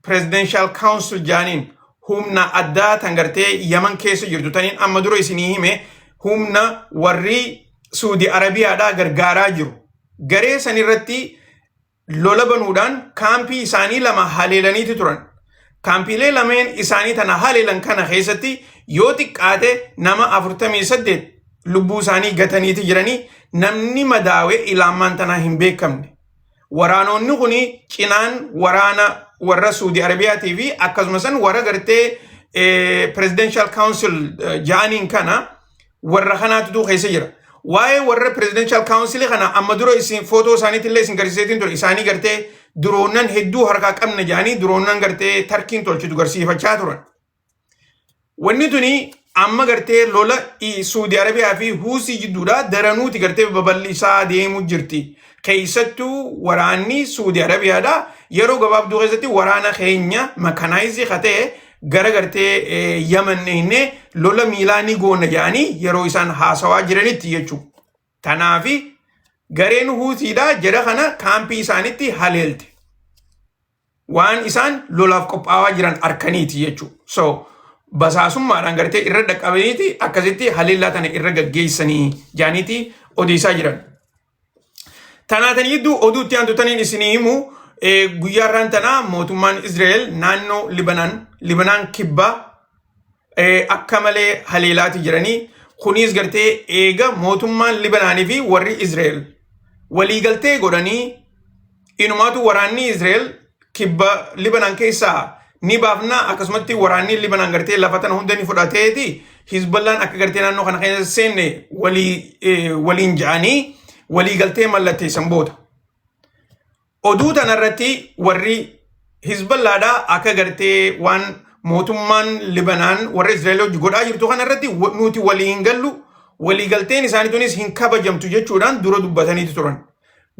presidential council jaaniin humna addaa tan gartee yaman keessa jirtu taniin amma dura isinii hime humna warri suudi arabiyaadhaa gargaaraa jiru garee san irratti lola banuudhaan kaampii isaanii lama haleelaniiti turan kaampiilee lameen isaanii tana haleelan kana keessatti yoo xiqqaate nama 48 lubbuu isaanii gataniiti jiranii namni madaawe ilaamaan tanaa hin beekamne Waraanoonni kun cinaan waraana warra Suudi Arabiyaatii fi akkasumas warra gartee presidential council ja'aniin kana warra kanaatu keessa jira. Waa'ee warra presidential council kana amma dura isin footoo isaaniitti illee isin garsiiseetiin ture isaanii gartee diroonnan hedduu harkaa qabna ja'anii diroonnan gartee tarkiin tolchitu garsiifachaa turan. Wanni tuni amma gartee lola i- Suudi Arabiyaa fi Huusii jidduudha daranuuti gartee babal'isaa deemuu jirti. Keessattuu waraanni Suudi Arabiyaadha. Yeroo gabaabduu keessatti waraana keenya makanaayizii ka ta'e gara gartee eh, Yaman dhiyeennee lola miilaa ni goona jedhanii yeroo isaan haasawaa jiranitti jechuudha. Tanaafi gareen Huusiidha jara kana kaampii isaanitti haleelte. waan isaan lolaaf qophaawaa jiran arkaniiti jechuu so basaasummaadhaan gartee irra dhaqqabaniiti akkasitti haleellaa tana irra gaggeessanii jaaniiti odeessaa jiran tanaa tan gidduu oduu itti aantu taniin isinii himu guyyaarraan tanaa mootummaan Israa'el naannoo Libanaan Libanaan kibbaa eh, akka malee haleelaati jiranii kunis gartee eega mootummaan Libanaanii fi warri Izreel waliigaltee godhanii inumaatu waraanni Izreel kibba Libanaan keessaa ni baafna akkasumatti waraanni Libanaan gartee lafa tana hunda ni fudhateeti Hizballaan akka gartee naannoo kana keessa seenne walii eh, waliin ja'anii waliigaltee mallatteessan booda. Oduu tanarratti warri Hizballaadhaa akka gartee waan mootummaan Libanaan warra Israa'el hojii godhaa jirtu kanarratti nuti walii hin gallu waliigalteen isaanii tunis hin kabajamtu jechuudhaan dura dubbataniiti turan.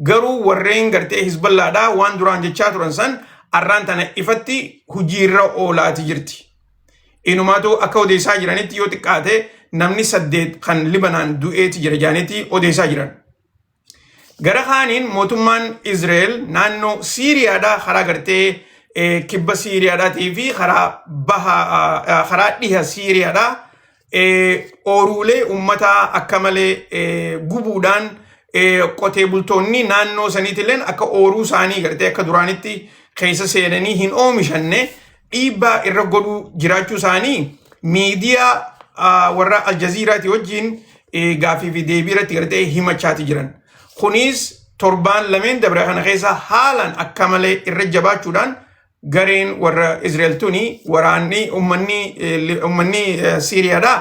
Garuu warreen gartee Hizballaadhaa waan duraan jechaa turan san arraan tana ifatti hojiirra oolaati jirti. Inumaatu akka odeessaa jiranitti yoo xiqqaate namni saddeet kan Libanaan du'eeti jira jaanitti odeessaa jiran. Gara kaaniin mootummaan Izreel naannoo Siiriyaadhaa karaa gartee eh, kibba Siiriyaadhaatii fi karaa baha ah, karaa dhiha Siiriyaadhaa eh, ooruulee uummataa akka malee eh, gubuudhaan eh, qotee bultoonni naannoo saniitilleen akka ooruu isaanii gartee akka duraanitti keessa seenanii hin oomishanne dhiibbaa irra godhuu jiraachuu isaanii miidiyaa ah, warra Aljaziiraati wajjin eh, gaaffii fi deebii irratti gartee himachaati jiran. Kunis torbaan lameen dabre kana keessa haalaan akka malee irra jabaachuudhaan gareen warra Israa'el tuni waraanni ummanni eh, li- ummanni eh, Siiriyaadhaa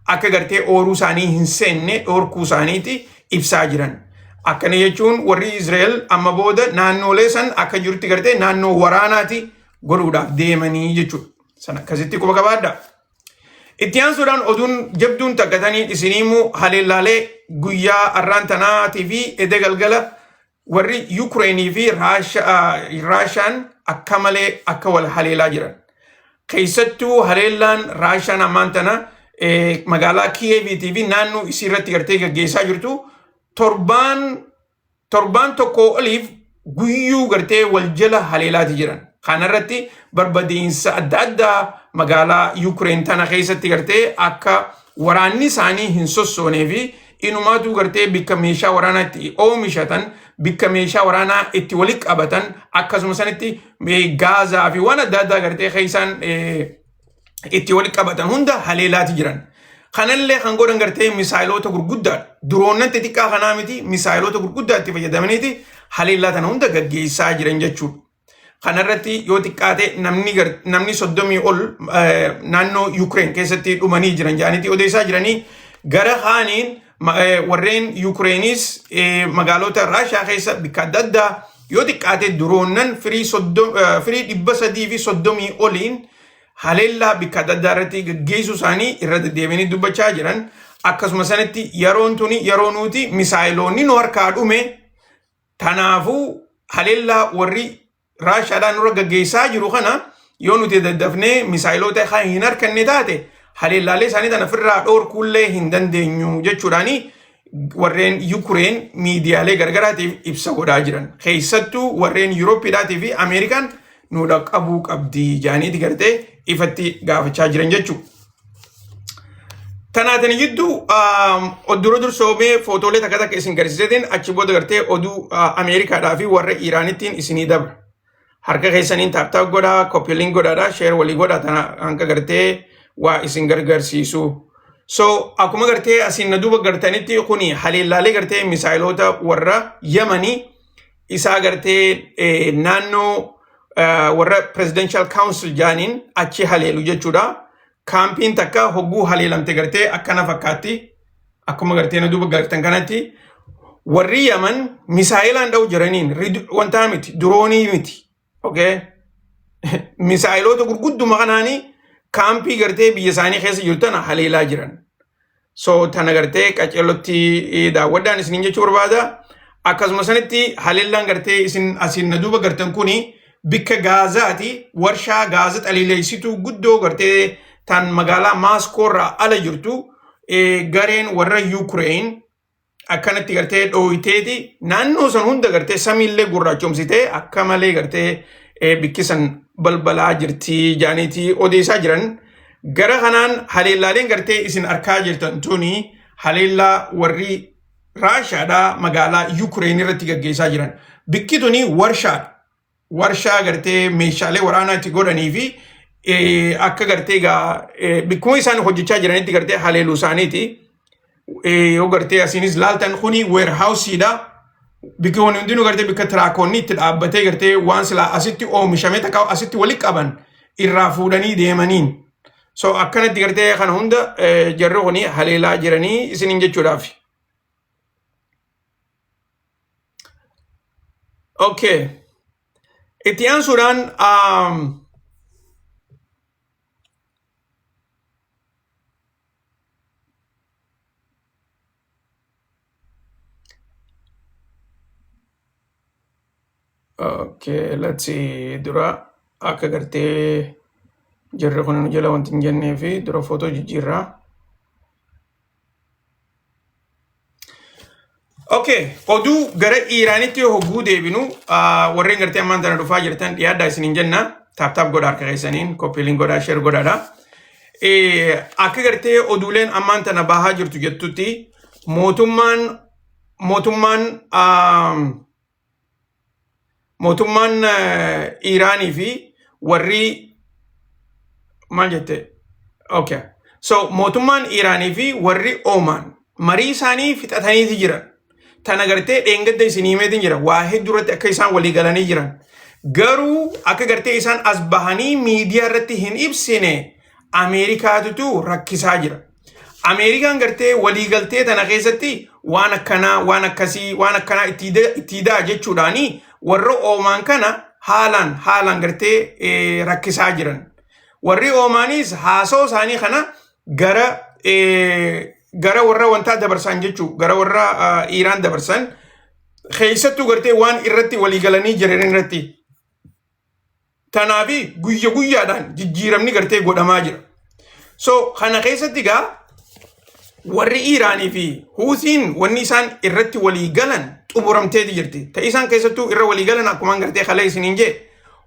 akka gartee ooruu isaanii hin seenne dhoorkuu isaaniiti ibsaa jiran. Akkana jechuun warri Israa'el amma booda naannoolee san akka jirutti gartee naannoo waraanaati godhuudhaaf deemanii jechuudha. Sana akkasitti quba qabaadha. Itti aansuudhaan oduun jabduun takkatanii isinii immoo haleellaalee guyyaa arraan tanaatii fi edee galgala warri Yuukireenii fi Raashaan akka malee akka wal haleelaa jiran. Keessattuu haleellaan Raashaan ammaan tana magaalaa Kiyeeviitii fi naannoo isii irratti gartee gaggeessaa jirtu torbaan torbaan tokkoo oliif guyyuu gartee wal jala haleelaati jiran. Kanarratti barbadiinsa adda addaa magaalaa Yukireen tana keessatti gartee akka waraanni isaanii hin sossoonee fi inumaatuu gartee bikka meeshaa waraanaa itti oomishatan bikka meeshaa waraanaa itti walitti qabatan akkasuma sanitti gaazaa fi waan adda addaa gartee keessaan itti wal qabatan hunda haleelaati jiran. Kanallee kan godhan gartee misaayiloota gurguddaa diroonnan xixiqqaa kanaa miti misaayiloota gurguddaa itti fayyadamaniiti haleellaa tana hunda gaggeessaa jiran jechuudha. Kanarratti yoo xiqqaate namni gar- namni soddomii ol eh, naannoo Yukireen keessatti dhumanii jiran jedhaniiti odeessaa jiranii gara kaaniin Ma- eh, Warreen Yuukireeniis eh, magaalota Raashiyaa keessa bakka adda addaa yoo xiqqaate diroonnan firii soddom- eh, firii dhibba sadii fi soddomii oliin haleellaa bakka adda addaa irratti gaggeessuu isaanii irra deddeebiinii dubbachaa jiran. Akkasuma sanatti yeroon tuni yeroo nuti misaayiloonni nu harkaa dhume Kanaafuu haleellaa warri Raashaadhaan nurra gaggeessaa jiru kana yoo nuti daddafnee misaayiloota kan hin harkanne taate haleellaalee isaanii tana ofirraa dhoorkuullee hin dandeenyu jechuudhaani warreen Yukureen miidiyaalee gargaraatiif ibsa godhaa jiran. Keessattuu warreen Yuurooppiidhaatii fi Ameerikaan nu dhaqqabuu qabdi jaaniiti gartee ifatti gaafachaa jiran jechuudha. Tanaatani gidduu dura dursoomee footoolee takka takka isin garsiisetiin achi booda gartee oduu Ameerikaadhaa fi warra Iiraanittiin isinii dabra. Harka keessaniin taaptaap godhaa, koppiiliin godhaadhaa, sheer walii godhaa tana hanga gartee waa isin gargarsiisu. So akkuma gartee asiin na duuba gartanitti kuni haleellaalee gartee misaayiloota warra Yamanii isa agartee eh, naannoo eh, warra presidential council jaaniin achi haleelu jechuudha. Kaampiin takka hogguu haleelamte gartee akkana fakkaatti akkuma gartee na duuba gartan kanatti warri Yaman misaa'ilaan dha'u jiraniin rid- wantaa miti diroonii miti okay misaayiloota gurgudduma kanaanii kaampii gartee biyya isaanii keessa jiru tana haleelaa jiran so tana gartee qaceellotti eh, daawwadhaan isiniin jechuu barbaada akkasuma sanitti haleellaan gartee isin asiin na duuba gartan kuni bikka gaazaati warshaa gaaza xaliileessituu guddoo gartee tan magaalaa maaskoo irraa ala jirtu eh, gareen warra yuukireen akkanatti gartee dhooyteeti naannoo san hunda gartee samiillee gurraachomsitee akka malee gartee bikkisan balbalaa jirtii jaaniitii odeessaa jiran gara kanaan haleellaaleen gartee isin arkaa jirtan tuni haleellaa warri raashaadhaa magaalaa yuukireen irratti gaggeessaa jiran bikki tuni warshaadha warshaa gartee meeshaalee waraanaa itti godhanii fi eh, akka gartee egaa eh, bakkuma isaan hojjechaa jiranitti gartee haleeluu isaaniiti. Eh, Yoo gartee asiinis laaltan kuni weerhaawusiidha. Bakka wani hundinuu gartee bakka tiraakoonni itti dhaabbatee gartee waan silaa asitti oomishame takka asitti wali qaban irraa fuudhanii deemaniin. So akkanatti gartee kana hunda eh, jarri kuni haleelaa jiranii isiniin jechuudhaaf. Okay. Itti aansuudhaan um, Okay, let's see. Dura akka gartee jirri kun nu jala wanti hin jennee fi dura footoo jijjiirraa. Okay, oduu gara Iiraanitti yoo hogguu deebinu ah, warreen gartee ammaan tana dhufaa jirtan dhiyaadhaa isin hin jenna. Taap taap godhaa harka keessaniin, koppiiliin godhaa, sheer godhaadha. Eh, Akka gartee oduuleen ammaan tana bahaa jirtu jettutti mootummaan mootummaan ah, mootummaan Iiraanii fi warri maal jette okay so mootummaan Iiraanii fi warri Oomaan marii isaanii fixataniiti jiran tana gartee dheengadda isinii himeetiin jira waa hedduu irratti akka isaan walii galanii jiran garuu akka gartee isaan as bahanii miidiyaa irratti hin ibsine Ameerikaatutu rakkisaa jira Ameerikaan gartee waliigaltee tana keessatti waan akkanaa waan akkasii waan akkanaa itti da- itti daa jechuudhaani warra oomaan kana haalaan haalaan gartee eh, rakkisaa jiran. Warri oomaanis haasoo isaanii kana gara eh, gara warra wantaa dabarsan jechuu gara warra ah, Iiraan dabarsan keessattuu gartee waan irratti waliigalanii jiran irratti Kanaaf guyya guyyaadhaan jijjiiramni gartee godhamaa jira. So kana keessatti egaa warri Iiraanii fi Huutiin wanni isaan irratti walii galan xumuramteeti jirti. Ta isaan keessattuu irra walii galan akkuma gartee kalee isiniin jee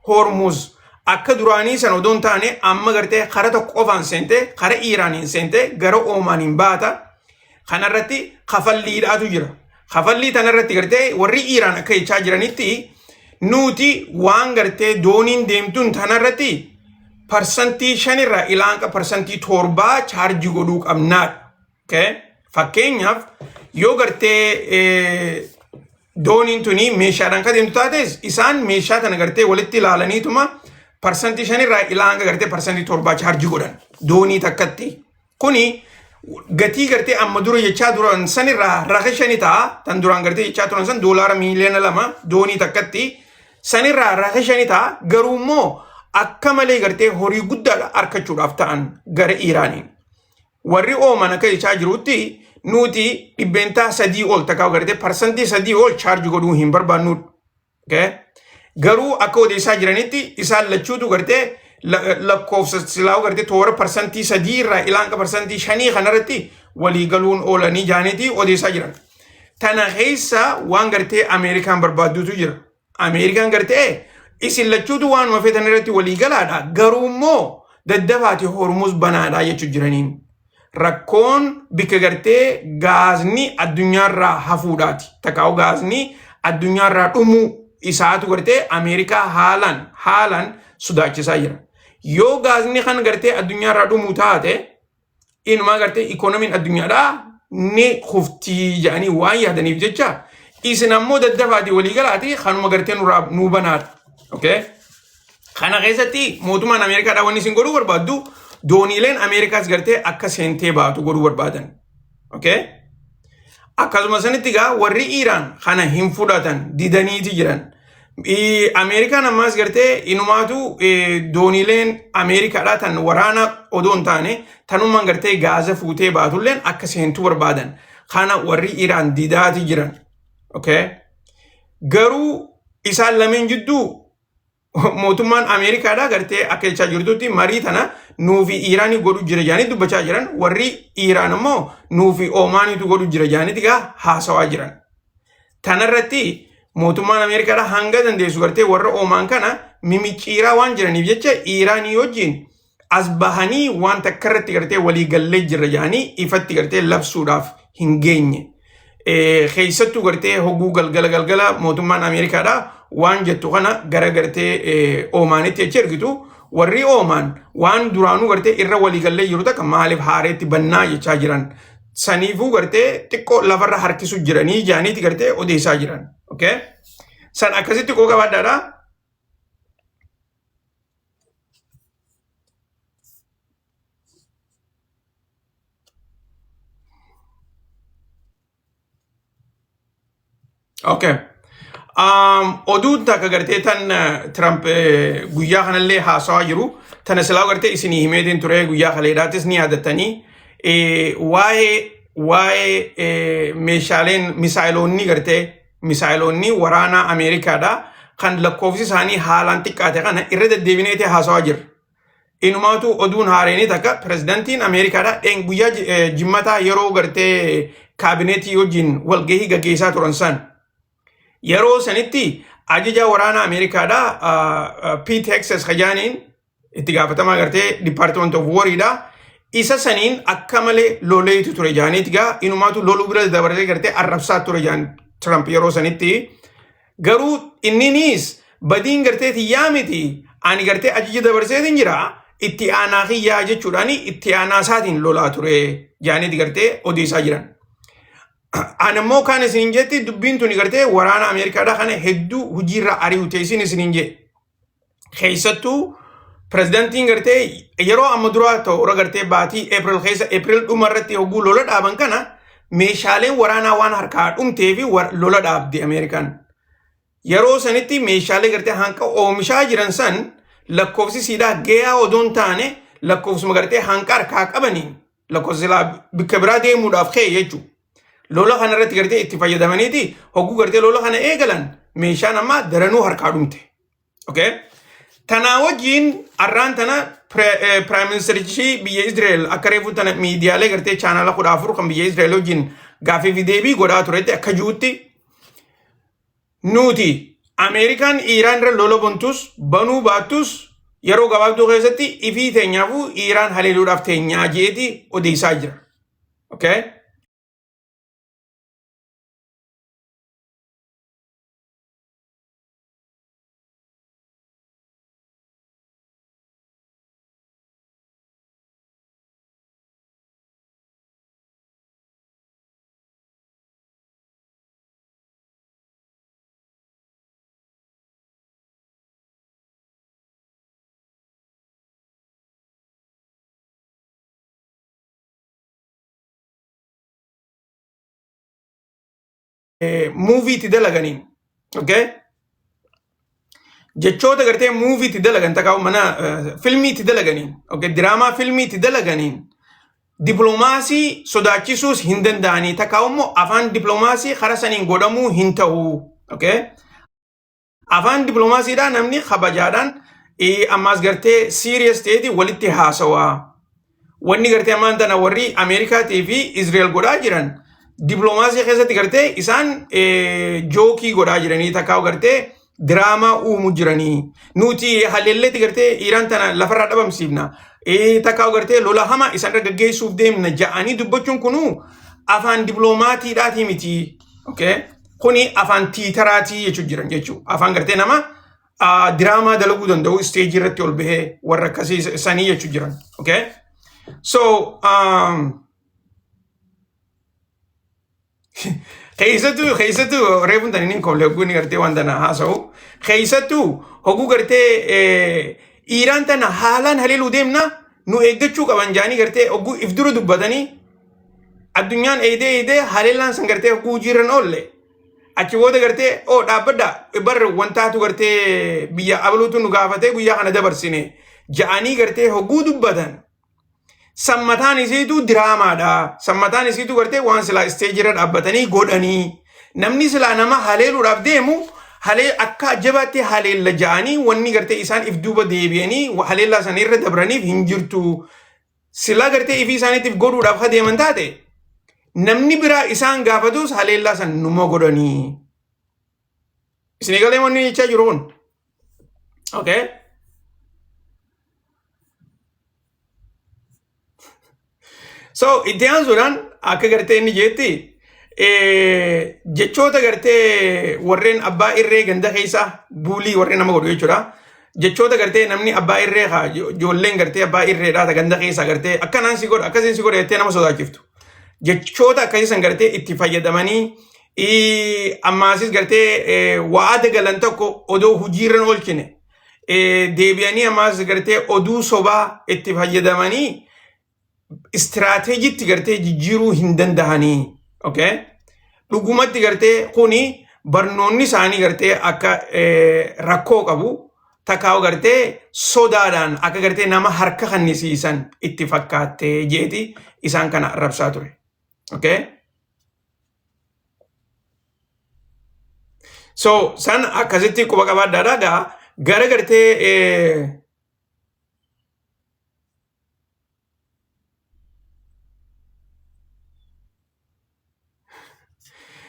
Hormuuz akka duraanii san odoo hin taane amma gartee kara tokko qofaan seentee kara Iiraaniin seentee gara Oomaaniin baata. Kanarratti kafalliidhaatu jira. Kafallii tanarratti gartee warri Iiraan akka jechaa jiranitti nuti waan gartee dooniin deemtuun tanarratti parsantii shanirraa ilaanqa parsantii torbaa chaarjii godhuu qabnaadha. Okay? Fakkeenyaaf yoo gartee dooniin tuni meeshaadhaan kan deemtu taates isaan meeshaa tana gartee walitti ilaalaniituma parsantii shanirraa ilaanqa gartee parsantii torbaa chaarjii godhan doonii takkatti. Kuni gatii gartee amma dura jechaa turan sanirraa raqa shani ta'a. Tan duraan gartee jechaa turan san doolaara miiliyoona lama doonii takkatti. Sanirraa raqa shani ta'a. Garuu immoo akka malee gartee horii guddaadha arkachuudhaaf ta'an gara Iiraaniin. Warri ooman akka jechaa jirutti nuti dhibbeentaa sadii ol takka gartee parsantii sadii ol chaarji godhuu hin barbaannu. Okay? Garuu akka odeessaa jiranitti isaan lachuutu gartee la- lakkoofsa silaa gartee toora parsantii sadii irraa ilaanqa parsantii shanii kanarratti walii galuun oolanii jaaniiti odeessaa jiran. Tana keessa waan gartee Ameerikaan barbaaddutu jira. Ameerikaan gartee isin lachuutu waanuma feetan irratti walii galaadha. Garuu immoo daddabaati hormuus banaadha jechuu jiraniin. rakkoon bikka gartee gaazni addunyaarraa hafuudhaati takkaa'u gaazni addunyaarraa dhumuu isaatu gartee ameerikaa haalaan haalaan sodaachisaa jira yoo gaazni kan gartee addunyaarraa dhumuu taate inumaa gartee ikoonomiin addunyaadhaa ni kuftii jedhanii waan yaadaniif jecha isin ammoo daddafaatii walii galaatii kanuma gartee nurraa nuu banaadha okay? Kana keessatti mootummaan Ameerikaadhaa wanni isin godhuu barbaaddu dooniileen Ameerikaas gartee akka seentee baatu godhuu barbaadan. Okay? Akkasuma sanitti egaa warri Iiraan kana hin fudhatan didaniiti jiran. I- Ameerikaan ammaas gartee inumaatu eh, dooniileen Ameerikaadhaa tan waraana odoo hin taane tanummaan gartee gaaza fuutee baatulleen akka seentuu barbaadan. Kana warri Iiraan didaati jiran. Okay? Garuu isaan lameen jidduu mootummaan Ameerikaadhaa gartee akka jechaa jirtutti marii tana nuufi Iiraanii godhu jira jedhanii dubbachaa jiran warri Iiraan immoo nuufi Oomaaniitu godhu jira jedhaniiti gaa haasawaa jiran. Tanarratti mootummaan Ameerikaadhaa hanga dandeessu gartee warra Oomaan kana mimicciiraa waan jiraniif jecha Iiraanii wajjin as bahanii waan takka irratti gartee walii gallee jirra jedhanii ifatti gartee labsuudhaaf hin geenye. Keessattuu gartee hoguu galgala galgala mootummaan Ameerikaadha waan jettu kana gara gartee Oomaanitti achi ergitu warri Oomaan waan duraanuu gartee irra walii gallee jiru takka maaliif haareetti bannaa jechaa jiran. Saniifuu gartee xiqqoo lafarra harkisu jiranii jaaniiti gartee odeessaa jiran. San akkasitti koo gabaadhaadhaa. Okay. Um, oduun takka gartee tan eh, Trump eh, guyyaa kanallee haasawaa jiru. Tana silaa gartee isinii himeetiin ture guyyaa kaleedhaatis ni yaadatanii. Eh, waa'ee waa'ee eh, meeshaaleen misaayiloonni gartee misaayiloonni waraanaa Ameerikaadhaa kan lakkoofsi isaanii haalaan xiqqaate kana irra deddeebineeti haasawaa jirra. Inumaatu oduun haareenii takka pirezidantiin Ameerikaadhaa dheen guyyaa ji- eh, jimmataa yeroo gartee kaabineetii wajjin walgahii gaggeessaa turan san yeroo sanitti ajajaa waraanaa Ameerikaadhaa ah, ah, Pete Hexes Kajaaniin itti gaafatamaa gartee department of war dha isa saniin akka malee loleetu ture jaaniit gaa inumaatu loluu bira dabaree gartee arrabsaa ture jaan Trump yeroo sanitti garuu inninis badiin gartee tiyyaa miti ani gartee ajaja dabarseetiin jira itti aanaa kiyyaa jechuudhaan itti aanaa isaatiin lolaa ture jaaniit gartee odeessaa jiran. Ani immoo kan isiniin jetti dubbiin tuni gartee waraana Ameerikaadhaa kana hedduu hojiirra ari'u ta'e isin isiniin jedhe. keessattuu pirezidantiin gartee yeroo amma duraa ta'u irra gartee baatii April keessa April dhuma irratti hogguu lola dhaaban kana meeshaaleen waraanaa waan harkaa dhumtee fi lola dhaabde Ameerikaan. Yeroo sanitti meeshaalee gartee hanqa oomishaa jiran san lakkoofsi siidaa gayaa odoo hin taane lakkoofsuma gartee hanqa harkaa qabaniin lakkoofsilaa bikka biraa deemuudhaaf ka'e jechuudha. Lola kana irratti gartee itti fayyadamaniiti hogguu gartee lola kana eegalan meeshaan ammaa daranuu harkaa dhumte. Okay? Tanaa wajjin arraan tana piraayim ministerichi biyya Israa'el akka reefuu tana miidiyaalee gartee chaanala kudha afur kan biyya Israa'el wajjin gaaffii fi deebii godhaa turetti akka jirutti Nuti Ameerikaan Iiraan irra lola bontuus banuu baattuus yeroo gabaabduu keessatti ifii teenyaafuu Iiraan haleeluudhaaf teenyaa jeeti odeessaa jira. Okay? muuvii itti dalaganiin okay jechoota gartee muuvii itti dalagan takka mana filmii itti dalaganiin okay, diraamaa filmii itti dalaganiin diploomaasii sodaachisuus hin danda'anii takka immoo afaan diploomaasii kara saniin godhamuu hin ta'u. Okay? Afaan diploomaasiidhaan namni kabajaadhaan ammaas gartee siiriyees ta'eeti walitti haasawaa. wanni gartee ammaan tana warri Ameerikaatii fi Izrael godhaa jiran diploomaasii keessatti gartee isaan eh, jookii godhaa jiranii takkaa gartee diraamaa uumu jiranii nuti haleelleetti gartee Iiraan tana lafarraa dhabamsiifna eh, takkaa gartee lola hama isaan irra gaggeessuuf deemna ja'anii dubbachuun kunuu afaan diploomaatiidhaatii miti okay? kuni afaan tiitaraatii jechuu jiran jechuu afaan gartee nama ah, diraamaa dalaguu danda'u isteejii irratti ol bahee warra akkasii isa- isanii jechuu jiran. Okay? So, um, keessattuu keessattuu reefuun tani niin kolle hogguu inni gartee waan tana haasa'u keessattuu hogguu gartee eh, dhiiraan tana haalaan haleeluu deemna nu eeggachuu qaban jaanii gartee hogguu if dura dubbatanii addunyaan eedee eedee haleellaan san gartee hogguu hojiirran oolle achi booda gartee oo dhaabbadha bar wantaatu gartee biyya abaluutu nu gaafatee guyyaa kana dabarsine ja'anii gartee hogguu dubbatan sammataan isiitu diraamaadha sammataan isiitu gartee waan silaa isteejirra dhaabbatanii godhanii namni silaa nama haleeluudhaaf deemu halee akka jabaatti haleella ja'anii wanni gartee isaan if duuba deebi'anii haleellaa sana irra dabraniif hin jirtu silaa gartee ifii isaaniitiif godhuudhaaf ha deeman taate namni biraa isaan gaafatus haleellaa san numa godhanii. Isin egalee wanni jechaa jiru kun. Okay. So itti aansuudhaan akka gartee inni jeetti jechoota gartee warreen abbaa irree ganda keessaa buulii warreen nama godhu jechuudha. jechoota gartee namni abbaa irree haa ijoolleen gartee abbaa irree dhaata ganda keessaa gartee akkanaan si godha akkasiin si godha jettee nama sodaachiftu. Jechoota akkasii san gartee itti fayyadamanii ammaasis gartee waada galan tokko odoo hojiirra oolchine deebi'anii ammaas gartee oduu sobaa itti fayyadamanii istiraateejiitti gartee jijjiiruu hin dandahanii okay? dhugumatti gartee kuni barnoonni isaanii gartee akka eh, rakkoo qabu takkaa gartee sodaadhaan akka gartee nama harka kannisiisan itti fakkaattee jeeti isaan kana arrabsaa ture okay? so san akkasitti quba qabaadhaadha gaa gara gartee eh,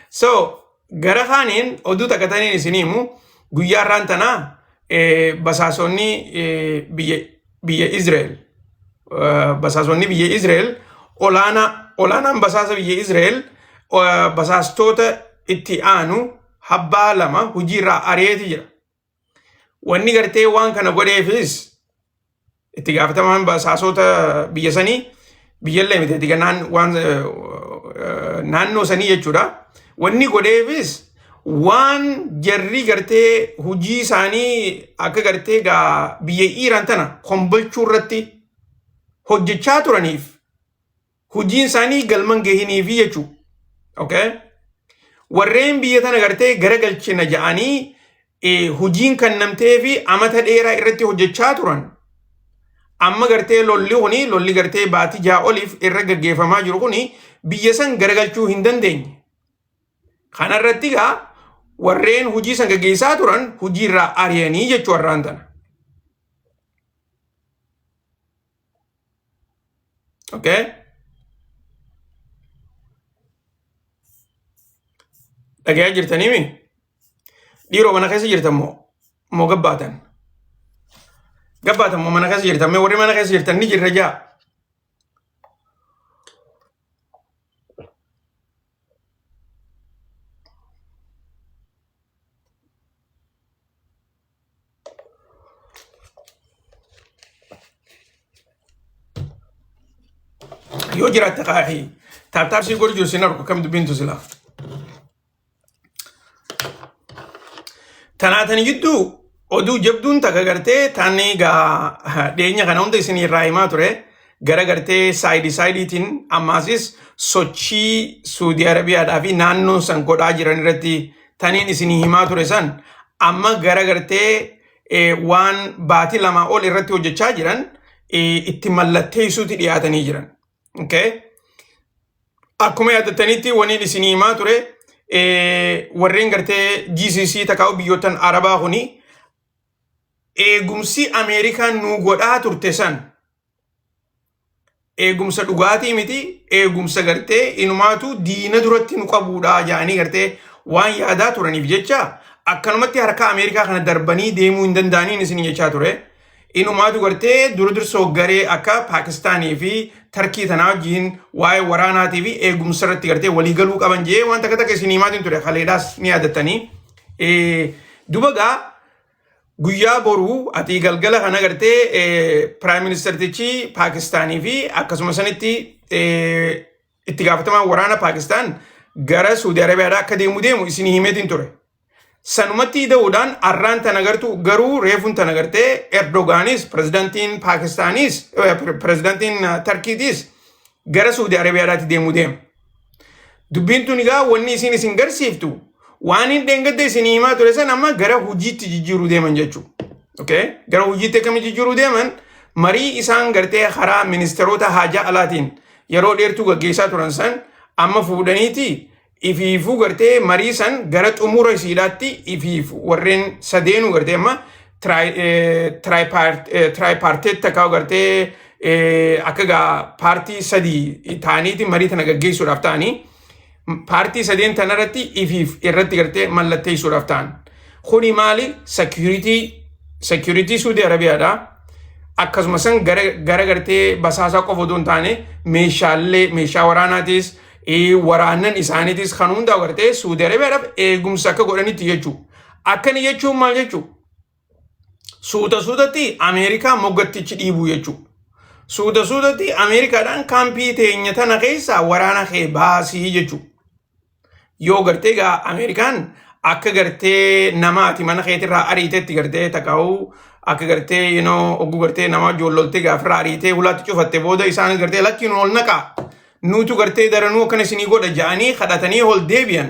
so gara kaaniin oduu takka taniin isin himu guyyaa irraan tana basaasonni biyya Israel basaasonni biyya Israel olaanaa olaanaan basaasa biyya Israel basaastoota itti aanu habbaa lama hojiirraa ari'eeti jira. Wanni gartee waan kana godheefis itti gaafatamaan basaasoota biyya sanii biyyallee miti itti naan- waan eh, eh, naannoo sanii jechuudha. Wanni godheefis waan jarri gartee hojii isaanii akka gartee gaa biyya Iiraan tana kombolchuu irratti hojjechaa turaniif hujiin isaanii galman gahiniifi jechuu okay? warreen biyya tana gartee garagalchina ja'anii eh, hujiin kannamtee fi amata dheeraa irratti hojjechaa turan amma gartee lolli kuni lolli gartee baatii ja'a oliif irra gaggeeffamaa jiru kuni biyya san garagalchuu hin dandeenye kana irratti egaa warreen hujii san gaggeessaa turan hujii irraa ari'anii jechuu har'aan tana. okay dhagayaa jirtanii mi dhiiroo mana keessa jirtan moo moo gabbaatan gabbaatan moo mana keessa jirtan mee warri mana keessa jirtan ni jirra jaa yoo jiraatte kaa'e taataabsii godhu jiru sin argu kam dubbiintu silaa. Tanaatan gidduu oduu jabduun takka gartee taanni egaa dhiyeenya kana hunda isin irraa himaa ture gara gartee saayidii saayidiitiin ammaasis sochii Suudii Arabiyaadhaa fi naannoon san godhaa jiran irratti taniin isinii himaa ture san amma gara gartee eh, waan baatii lamaa ol irratti hojjechaa jiran eh, itti mallatteessuutti dhiyaatanii jiran. Okay? Akkuma yaadatanitti waniin isinii himaa ture eh, warreen gartee GCC takkaa'u biyyootan Arabaa kuni eegumsi Ameerikaan nuu godhaa turte san eegumsa dhugaatii miti eegumsa gartee inumaatu diina duratti nu qabuudha jedhanii gartee waan yaadaa turaniif jecha akkanumatti harka Ameerikaa kana darbanii deemuu hin danda'aniin isin jechaa ture. Inumaatu gartee dura dursoo garee akka Paakistaanii fi Tarkii tanaa wajjin waa'ee waraanaatii fi eegumsa irratti gartee walii galuu qaban jee waan takka takka isin himaatiin ture haleedhaas ni yaadatanii. Dubagaa guyyaa boruu ati galgala kan agartee piraayim ministertichi Paakistaanii fi akkasuma sanitti itti gaafatamaan waraana Paakistaan gara Suudi Arabiyaadhaa akka deemu deemu isin himeetiin ture. Sanumatti ida'uudhaan arraan tan agartu garuu reefuun tan agartee Erdogaanis pirezidantiin Paakistaaniis pirezidantiin Tarkiitiis gara Suudi Arabiyaadhaatti deemuu deema. Dubbiin tun egaa wanni isiin isin garsiiftu waan hin dheengadde isin himaa ture san amma gara hojiitti jijjiiruu deeman jechuudha. Okay? Gara hojiitti akkamii jijjiiruu deeman marii isaan gartee karaa ministeerota haajaa alaatiin yeroo dheertuu gaggeessaa turan san amma fuudhaniiti ifiifuu gartee marii san gara xumura isiidhaatti ifiif warreen sadeenuu gartee amma tiraayipaarteetti akka gartee akka gaa paartii sadii ta'aniiti marii tana gaggeessuudhaaf ta'anii paartii sadeen tanarratti ifiif irratti gartee mallatteessuudhaaf ta'an. Kuni maali sekiyuritii sekiyuritii Suudii Arabiyaadha. Akkasuma san gara gartee basaasaa qofa otoo hin taane meeshaalee meeshaa waraanaatis waraannan isaaniitis kan hundaa gartee Suudi Arabiyaadhaaf eegumsa akka godhanitti jechuu. Akkana jechuun maal jechuu? Suuta suutatti Ameerikaa moggattichi dhiibuu jechuu. Suuta suutatti Ameerikaadhaan kaampii teenya tana keessaa waraana kee baasii jechuu. Yoo gartee gaa Ameerikaan akka gartee namaati mana keetirraa ariitetti gartee takaa'uu akka gartee you know, ogguu gartee nama joolloltee gaafirraa ariitee hulaatti cufatte booda isaan gartee lakkiin ol naqaa. nuutu gartee daranuu akkana isinii godha ja'anii kadhatanii ol deebi'an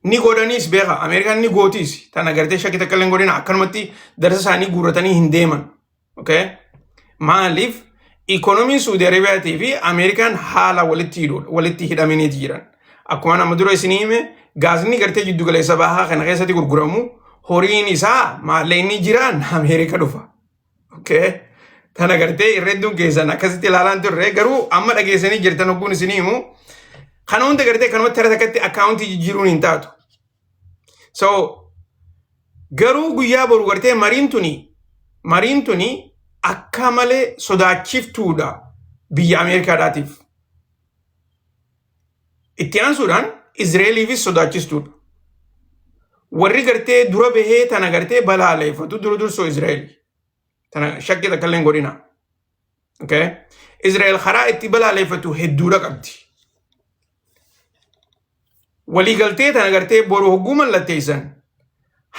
ni godhaniis beeka ameerikaan ni gootiis tana gartee shakkii takka illee hin godhina akkanumatti darsa isaanii guurratanii hin deeman okay? maaliif ikoonomiin suudi arabiyaatii fi ameerikaan haala walitti hidhuudha walitti hidhaminiiti jiran akkuma nama dura isinii hime gaasni gartee jiddu galeessa bahaa kana keessatti gurguramu horiin isaa maallaqni jiraan ameerika dhufa Okay. Tana gartee irra hedduun keessan akkasitti ilaalaan turre garuu amma dhageessanii jirtan hogguun isinii himu kana hunda gartee kanumatti irra takkatti akkaawuntii jijjiiruun hin taatu. So garuu guyyaa boru gartee mariin tuni mariin tuni akka malee sodaachiftuudha biyya Ameerikaadhaatiif. Itti aansuudhaan Izreeliifis sodaachistuudha. Warri gartee dura bahee tana gartee balaaleeffatu dura dursoo Izreel. Tana shakkii takka illee hin godhina. Okay? Izreel karaa itti balaaleeffatu hedduudha qabdi. Waliigaltee tana gartee boru hogguu mallatteessan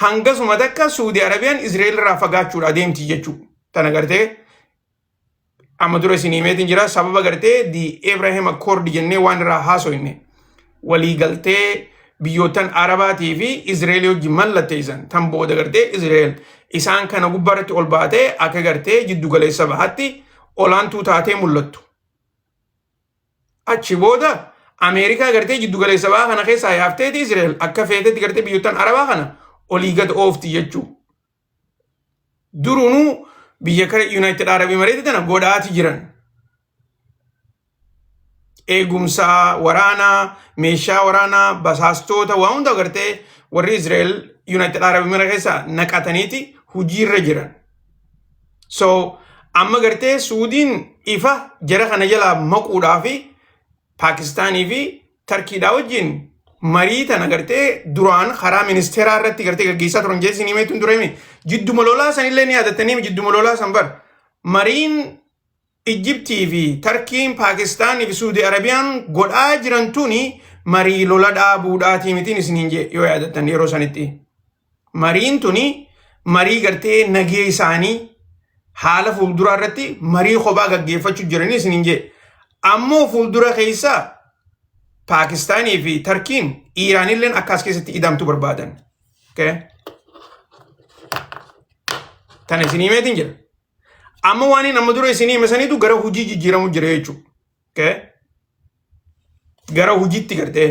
hangasuma takka Suudi Arabiyaan Izreel irraa fagaachuudha adeemti jechuu. Tana gartee amma dura isin himeetiin jira sababa gartee di Abraham Accord jennee waan irraa haasoyne walii galtee biyyootan Arabaatii fi Izrael hojji mallatteessan tan booda gartee Izrael isaan kana gubbaarratti ol baatee akka gartee jiddu galeessa bahatti olaantuu taatee mul'attu. Achi booda Ameerikaa gartee jiddu galeessa bahaa kana keessaa yaafteeti Izrael akka feetetti gartee biyyootan Arabaa kana olii gad oofti jechuu. Durunuu biyya kana Yuunaayitid Arab Imareeti tana godhaati jiran. Eegumsaa, waraanaa, meeshaa waraanaa, basaastoota waa hunda agartee warri Izraa'el Yuunaayitid Arab Imareeti keessa naqataniiti hojiirra jiran. So amma gartee Suudiin ifa jara kana jalaa maquudhaa fi Paakistaanii fi Tarkiidhaa wajjin marii tana gartee duraan karaa ministeeraa irratti gartee gaggeessaa turan jee isin himeetuun tureemi. Jidduma lolaa san illee ni yaadatanii jidduma lolaa san bar. Mariin Ijjibtii fi Tarkiin Paakistaanii fi Suudi Arabiyaan godhaa jiran tuni marii lola dhaabuudhaatii mitiin isiniin jee yoo yaadattan yeroo sanitti. Mariin tuni marii gartee nagee isaanii haala fuulduraa irratti marii kophaa gaggeeffachuu jiranii isiniin jee. Ammoo fuuldura keessa Paakistaanii fi Tarkiin Iiraanilleen akka as keessatti idamtu barbaadan. Okay. Tana isinii meetiin jira. Amma waan inni amma dura isinii hime saniitu gara hojii jijjiiramu jira jechuudha. okay? gara hojiitti gartee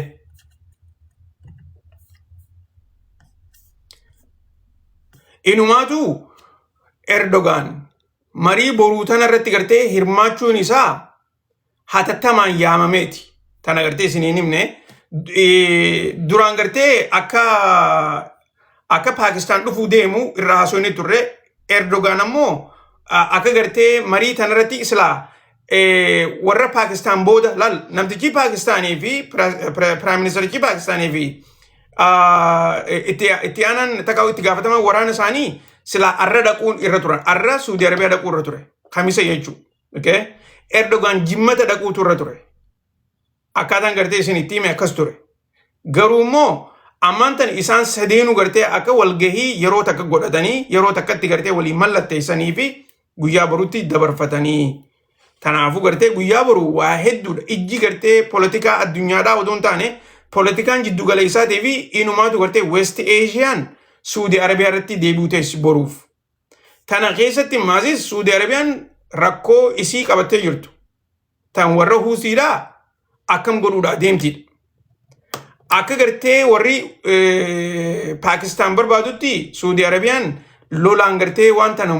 inumaatu Erdogaan marii boruu tana irratti gartee hirmaachuun isaa hatattamaan yaamameeti. Tana gartee isiniin himne duraan gartee akka akka Paakistaan dhufuu deemu irra haasofni turre Erdogaan ammoo akka gartee marii tanarratti islaa warra Paakistaan booda lal namtichi Paakistaanii fi Piraayim Ministerichi Paakistaanii fi itti aanan takka itti gaafataman waraana isaanii silaa arra dhaquun irra turan arra Suudi Arabiyaa dhaquu irra ture kamisa jechuudha. Erdogaan jimmata dhaquutu irra ture. akkaataan gartee isin itti hime akkas ture garuu immoo ammaan tan isaan sadeenu gartee akka walgahii yeroo takka godhatanii yeroo takkatti gartee walii mallatteessanii fi guyyaa borutti dabarfatanii kanaafuu gartee guyyaa boru waa hedduudha ijji gartee poolitikaa addunyaadhaa odoo hin taane poolitikaan jiddu galeessaatii fi inumaatu gartee west eeshiyaan suudi arabiyaa irratti deebi'uu teessi boruuf Tana keessatti maasiis Suudi Arabiyaan rakkoo isii qabattee jirtu tan warra huusiidhaa akkam godhuudhaa deemtiidha. Akka gartee warri Paakistaan barbaadutti Suudi Arabiyaan lolaan gartee waan tana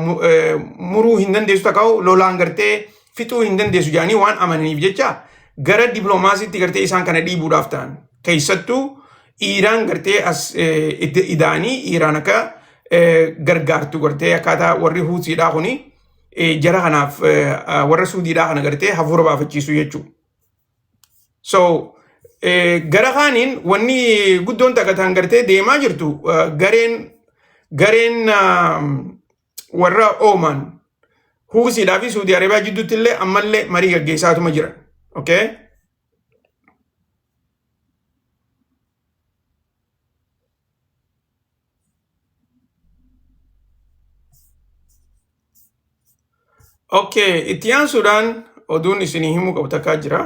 muruu hin dandeessu takkaa'u lolaan gartee fixuu hin dandeessu jedhanii waan amananiif jecha gara diploomaasiitti gartee isaan kana dhiibuudhaaf ta'an keessattuu Iiraan gartee as idaanii Iiraan akka gargaartu gartee akkaataa warri huusiidhaa kuni jara kanaaf warra suudiidhaa kana gartee hafuura baafachiisu jechuudha. So gara kaaniin wanni guddoon takataan gartee deemaa jirtu gareen gareen warra oomaan huusiidhaa fi suudii arabiyaa jidduutti illee ammallee marii gaggeessaatuma jira. Okay? Okay, itti aansuudhaan oduun isinii himuu qabu takkaa jira.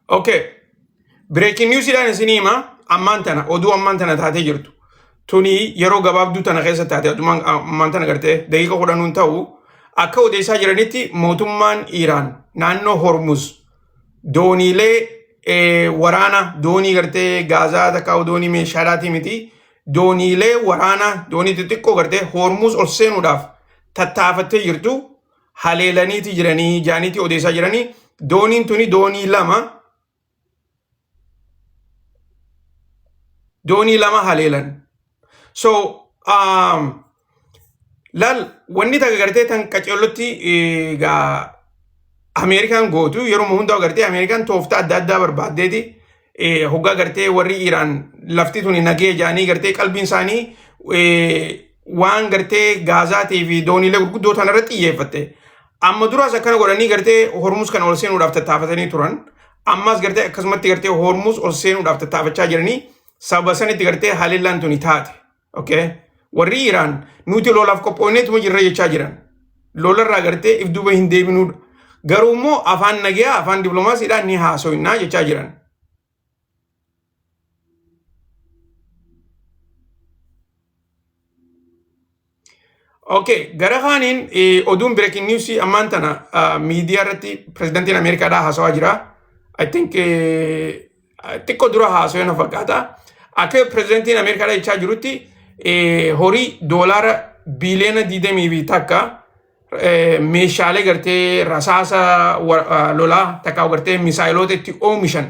Okay. Breaking news dhaan isin hima ammaan tana oduu ammaan tana taatee jirtu. Tuni yeroo gabaabduu tana keessa taate adumaan ammaan tana gartee daqiiqa kudhanuun ta'u akka odeessaa jiranitti mootummaan Iiraan naannoo Hormuz dooniilee eh, waraana doonii gartee gaazaa takka doonii meeshaadhaatii miti dooniilee waraana doonii xixiqqoo gartee hoormuus ol seenuudhaaf tattaafattee jirtu haleelaniiti jiranii jaaniitii odeessaa jiranii dooniin tuni doonii lama doonii lama haleelan so um, laal wanni takka gartee tan qaceellotti eh, gaa Ameerikaan gootu yeroo hundaa gartee Ameerikaan tooftaa adda addaa barbaaddeeti eh, hoggaa gartee warri Iraan lafti tuni nagee jaanii gartee qalbiin isaanii eh, waan gartee gaazaatii fi dooniilee gurguddoo tana irratti xiyyeeffatte. Amma duraas akkana godhanii gartee hormus kana ol seenuudhaaf tattaafatanii turan. Ammas gartee akkasumatti gartee Hormuuz ol seenuudhaaf tattaafachaa jiranii sababa sanitti gartee haleellaan tuni taate. Okay? Warri Iraan nuti lolaaf qophoonneetuma jirra jechaa jiran. Lolarraa gartee if duuba hin deebinuudha. Garuu immoo afaan nagaa afaan dippiloomaasiidhaan ni haasoinaa jechaa jiran. Okay, gara kaaniin eh, oduun breaking news ammaan tana ah, miidiyaa irratti pirezidantiin Ameerikaadhaa haasawaa jira. I think eh, xiqqoo dura haasawee na fakkaata. Akka pirezidantiin Ameerikaadhaa jechaa jirutti eh, horii doolaara biiliyoona 20 fi takka eh, meeshaalee gartee rasaasa wa- ah, lolaa takka gartee misaayiloota itti oomishan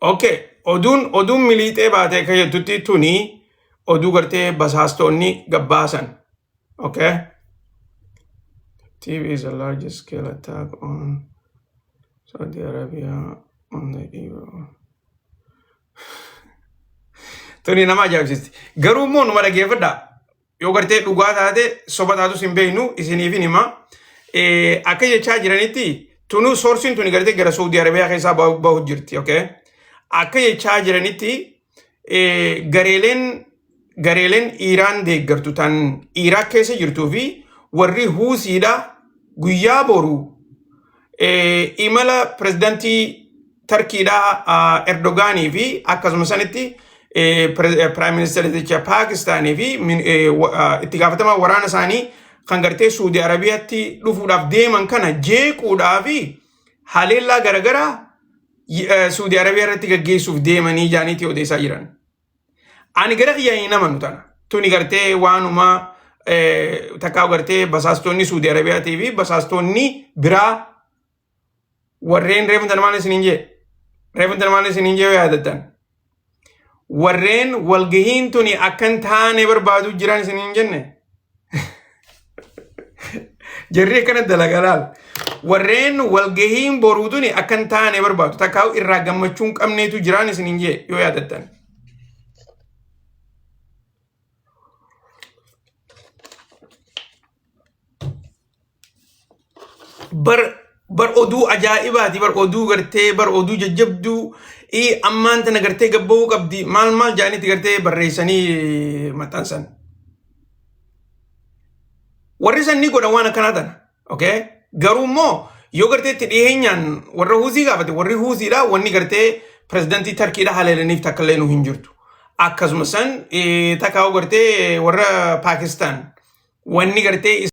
Okay, oduun oduun miliixee baatee akka jettutti tuni oduu gartee basaastoonni gabbaasan. Okay. TV is a large scale attack on Saudi Arabia on the Euro. Tuni nama ajaa'ibsiisti. Garuu immoo numa dhaggeeffadha. Yoo gartee dhugaa taate soba taatus hin beeknu isiniif hin hima. Eh, Akka jechaa jiranitti tunu soorsiin tuni gartee gara Saudi Arabiyaa keessaa bahu bahu jirti. Okay. Akka jechaa jiranitti gareeleen gareeleen Iiraan deeggartu tan Iiraaq keessa jirtuu fi warri Huusiidha guyyaa boru imala pirezidantii Tarkiidha Erdogaanii fi akkasuma sanitti piraayim ministeericha Paakistaanii fi itti gaafatamaa waraana isaanii kan gartee Suudi Arabiyaatti dhufuudhaaf deeman kana jeequudhaa fi haleellaa garagaraa Suudi Arabiyaa irratti gaggeessuuf deemanii jaaniitii odeessaa jiran. Ani gara kiyya hin amanu tana. Tuni gartee waanuma takkaa gartee basaastonni Suudi Arabiyaatii fi basaastonni biraa warreen reefan tana maal isiniin jee? Reefan tana maal isiniin jee yoo yaadattan? warreen walgahiin tuni akkan taane barbaadu jiran isin hin jenne jarri akkana dalagaa laal warreen walgahiin boruu tuni akkan taane barbaadu takkaa irraa gammachuun qabneetu jiraan isin hin jee yoo yaadattan bar bar oduu ajaa'ibaati bar oduu gartee bar oduu jajjabduu ii ammaan tana gartee gabba'uu qabdi maal maal jaanitti gartee barreessanii maxxansan warri san ni godhan waan akkanaa tana okay garuu immoo yoo gartee itti dhiheenyaan warra huuzii gaafate warri huuziidha wanni gartee pirezidantii tarkiidha haleelaniif takka illee nu hin jirtu akkasuma san eh, takka gartee warra paakistaan wanni gartee